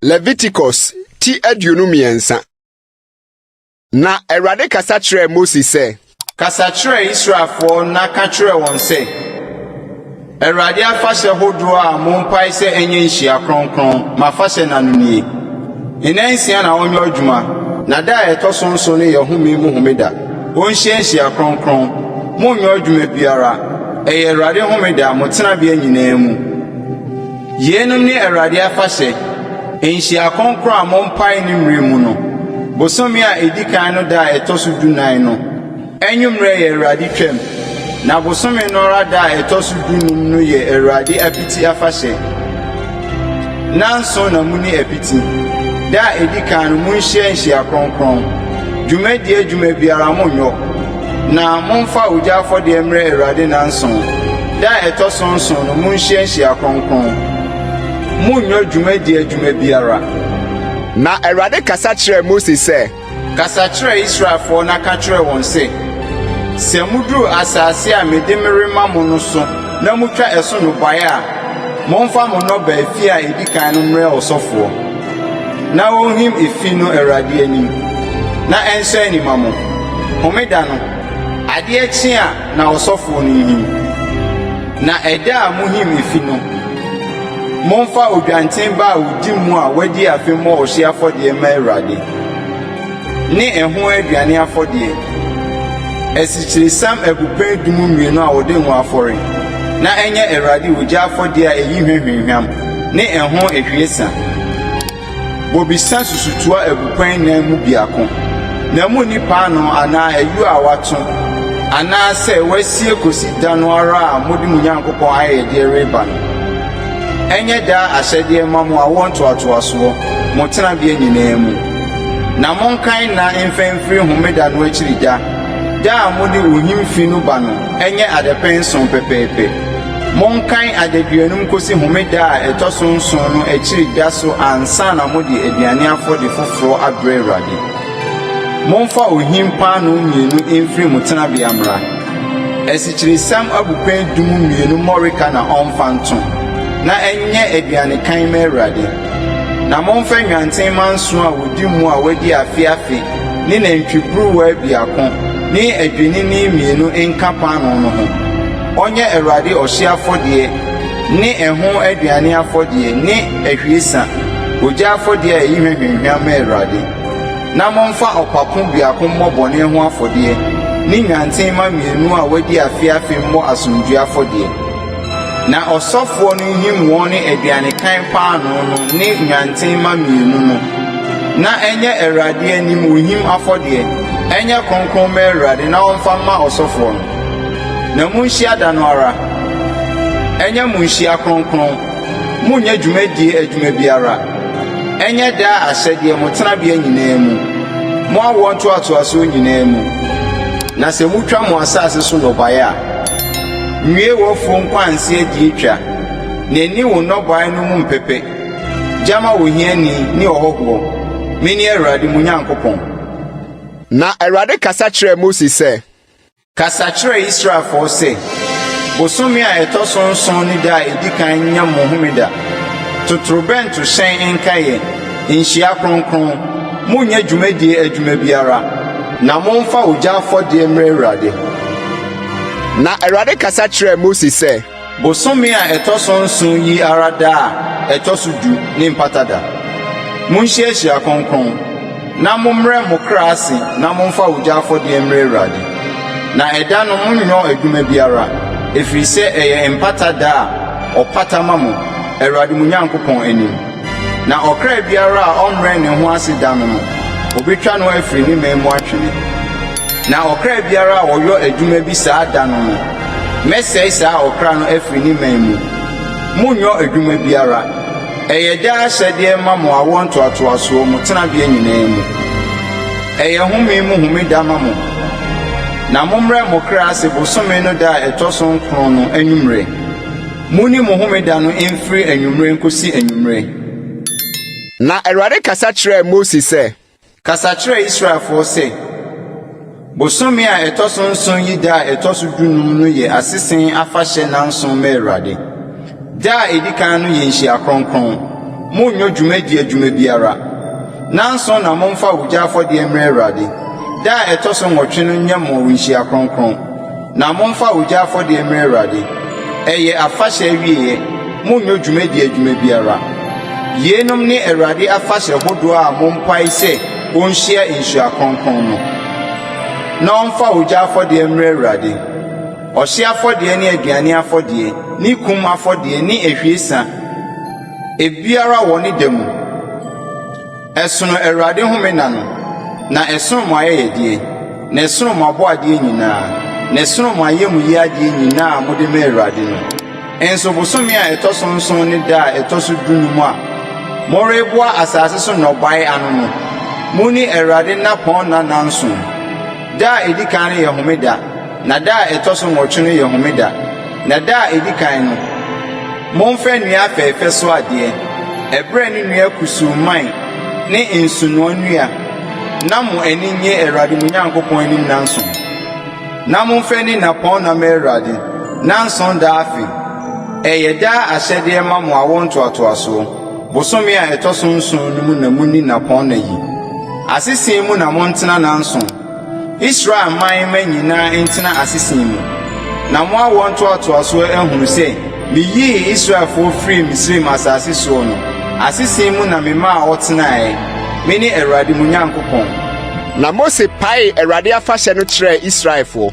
Leviticus ti aduonu mmiɛnsa Na Awurade kasa kyerɛɛ Mose sɛ, Kasa kyerɛ Israelfoɔ na ka kyerɛ wɔn sɛ, Awurade afahyɛ hodoɔ a mompae sɛ ɛnyɛ nhyia kronkron, mo afahyɛ nna no nie. Nna nsia na ɔnyɔ adwuma, na da a ɛtɔ so nson no yɛ home mu homeda. Ɔnhyia nhyia kronkron. Monnyɔ adwuma biara. Ɛyɛ Awurade homeda, mo tenabea nyinaa mu. Yeinom ne Awurade afahyɛ, nhyia kronkron a mompae ne mmerɛ mu no, bosome a ɛdi kan no da a ɛtɔ so dunan no. Anwummerɛ yɛ Awurade Twam, na bosome no ara da a ɛtɔ so dunum no yɛ Awurade Apiti Afahyɛ. Nnanson na monni apiti. Da a ɛdi kan no, monhyia nhyia kronkron. Dwumadie adwuma biara monnyɔ, na momfa ogya afɔdeɛ mmrɛ Awurade nnanson. Da a ɛtɔ so nson no, monhyia nhyia kronkron. Monnyɔ dwumadie adwuma biara. Na Awurade kasa kyerɛɛ Mose sɛ. Kasa kyerɛ Israelfoɔ na ka kyerɛ wɔn sɛ, 'Sɛ moduru asaase a mede merema mo no so na motwa ɛso nnɔbaeɛ a, momfa mo nnɔbaeɛ efi a ɛdi kan no mmrɛ ɔsɔfoɔ, na ɔnhim efi no Awurade anim, na ɛnsɔ ani mma mo. Homeda no, adeɛ kye a na ɔsɔfoɔ no nhim. Na ɛda a mohim efi no, momfa odwanten ba a ɔdi mu a wadi afe mmɔ ɔhyeɛ afɔdeɛ mma Awurade. ne ɛho aduane afɔdeɛ, asikyiresiam abupɛn adum mmienu a wɔde ngo afɔre, na ɛnyɛ Awurade ogya afɔdeɛ a ɛyi hwa hwamhwam ne ɛho ahwiesa. Bobesa susutoa abupɛn nnan mu biako, na munni paanoo anaa ayuo a wɔato anaasɛ wɔasie kɔsi da no ara a mode mo Nyankopɔn ayɛyɛdeɛ reba no. Ɛnyɛ daa ahyɛdeɛ mma mo awoɔ ntoatoasoɔ, mo tenabea nyinaa mu. Na monkan nna mfa mfiri homeda no akyiri da, da a mode ohim fi no ba no, ɛnyɛ adapɛn nson pɛpɛɛpɛ. Monkan adaduanum kɔsi homeda a ɛtɔ so nson no akyiri da so ansa na mode aduane afɔdeɛ foforɔ abrɛ Awurade. Momfa ohim paanoo mmienu mfiri mo tenabea mmra. Asikyiresiam abupɛn du mu mmienu mmɔreka na ɔmfa nto, na ɛnyɛ aduane kann mma Awurade. Na momfa nnwantenmma nson a wɔdi mu a wɔadi afe afe ne nantwiburuwa biako ne adwennini mmienu nka paanoo no ho. Ɔnyɛ Awurade ɔhyeɛ afɔdeɛ ne ɛho aduane afɔdeɛ ne ahwiesa, ogya afɔdeɛ a ɛyi hwɛhwɛ hwam ma Awurade. Na momfa ɔpapo biako mmɔ bɔne ho afɔdeɛ, ne nnwantenmma mmienu a wɔadi afe afe mmɔ asomdwoeɛ afɔdeɛ. Na ɔsɔfoɔ no nhim wɔn ne aduanekan paanoo no ne nnwantenmma mmienu no, na ɛnyɛ Awurade anim ohim afɔdeɛ, ɛnyɛ kronkron mma Awurade na ɔmfa mma ɔsɔfoɔ no. Na monhyia da no ara, ɛnyɛ mo nhyia kronkron, monnyɛ dwumadie adwuma biara. Ɛnyɛ daa ahyɛdeɛ mo tenabea nyinaa mu, mo awoɔ ntoatoasoɔ nyinaa mu. Na sɛ motwa mo asase so nnɔbaeɛ a, nwie w'afuo nkwanse adie twa, na nni wo nnɔbaeɛ no mu mpɛpɛ, gya ma ohiani ne ɔhɔhoɔ. Mene Awurade mo Nyankopɔn. Na Awurade kasa kyerɛɛ Mose sɛ. Kasa kyerɛ Israelfoɔ sɛ, 'Bosome a ɛtɔ so nson ne da a ɛdi kan nyɛ mo homeda. Totorobɛnto hyɛn nka yɛn nhyia kronkron. Monnyɛ dwumadie adwuma biara. Na momfa ogya afɔdeɛ mmrɛ Awurade. Na Awurade kasa kyerɛɛ Mose sɛ. Bosome a ɛtɔ so nson yi ara da a ɛtɔ so du ne Mpata Da. Monhyia ahyia kronkron, na mommrɛ mo kra ase na momfa ogya afɔdeɛ mmrɛ Awurade. Na ɛda no monnyɔ adwuma biara, ɛfiri sɛ ɛyɛ Mpata Da a ɔpata ma mo, Awurade mo Nyankopɔn anim. Na ɔkra biara a ɔmmrɛɛ ne ho ase da no no, wɔbɛtwa no afiri ne man mu atwene. Na ɔkra biara a ɔyɔ adwuma bi saa da no no, mɛsɛe saa ɔkra no afiri ne man mu. Monnyɔ adwuma biara. Ɛyɛ daa ahyɛdeɛ mma mo awoɔ ntoatoasoɔ mu tenabea nyinaa mu. Ɛyɛ home mu homeda ma mo. Na mommrɛ mo kra ase bosome no da a ɛtɔ so nkron no anwummerɛ. Monni mo homeda no mfiri anwummerɛ nkɔsi anwummerɛ. Na Awurade kasa kyerɛɛ Mose sɛ. Kasa kyerɛ Israelfoɔ sɛ, 'Bosome a ɛtɔ so nson yi da a ɛtɔ so dunum no yɛ Asese Afahyɛ nnanson ma Awurade. Da a ɛdi kan no yɛ nhyia kronkron. Monnyɛ dwumadi adwuma biara. Nnanson na momfa ogya afɔdeɛ mmrɛ Awurade. Da a ɛtɔ so nnwɔtwe no nyɛ mo nhyia kronkron. Na momfa ogya afɔdeɛ mmrɛ Awurade. Ɛyɛ afahyɛ awieɛ, monnyɔ dwumadie adwuma biara. Yeinom ne Awurade afahyɛ hodoɔ a mompae sɛ ɔnhyia nhyira kronkron no. Na ɔmfa ogya afɔdeɛ mmrɛ Awurade, ɔhyeɛ afɔdeɛ ne aduane afɔdeɛ ne kum afɔdeɛ ne ahwiesa, ebiara wɔ ne da mu. Ɛsono Awurade home nna no, na ɛsono mo ayɛyɛdeɛ, na ɛsono mo abɔadeɛ nyina ara, na ɛsono mo ayamuyie adeɛ nyina ara a mode ma Awurade no. Nso bosome a ɛtɔ so nson ne da a ɛtɔ so dunum a moreboa asase so nnɔbaeɛ ano no, monni Awurade nnapɔnna nnanson. Da a ɛdi kan no yɛ homeda. Na da a ɛtɔ so nwɔtwe no yɛ homeda, na da a ɛdi kan no, momfa nnua afɛɛfɛ so adeɛ, ɛberɛ ne nnua kusuu mman ne nsonoɔ nnua, na mo ani nnye Awurade mo Nyankopɔn anim nnanson. Na momfa nni nnapɔnna ma Awurade, nnanson da afe. Ɛyɛ daa ahyɛdeɛ ma mo awoɔ ntoatoasoɔ. Bosome a ɛtɔ so nson no mu na monni nnapɔnna yi. Asese mu na montena nnanson. Israel man mma nyinaa ntena asesin mu, na mo awoɔ ntoatoasoɔ ahunu sɛ meyii Israelfoɔ firii Misraim asase soɔ no, asesin mu na memaa wɔtenaeɛ. Mene Awurade mo Nyankopɔn. Na Mose paee Awurade afahyɛ no kyerɛɛ Israelfoɔ.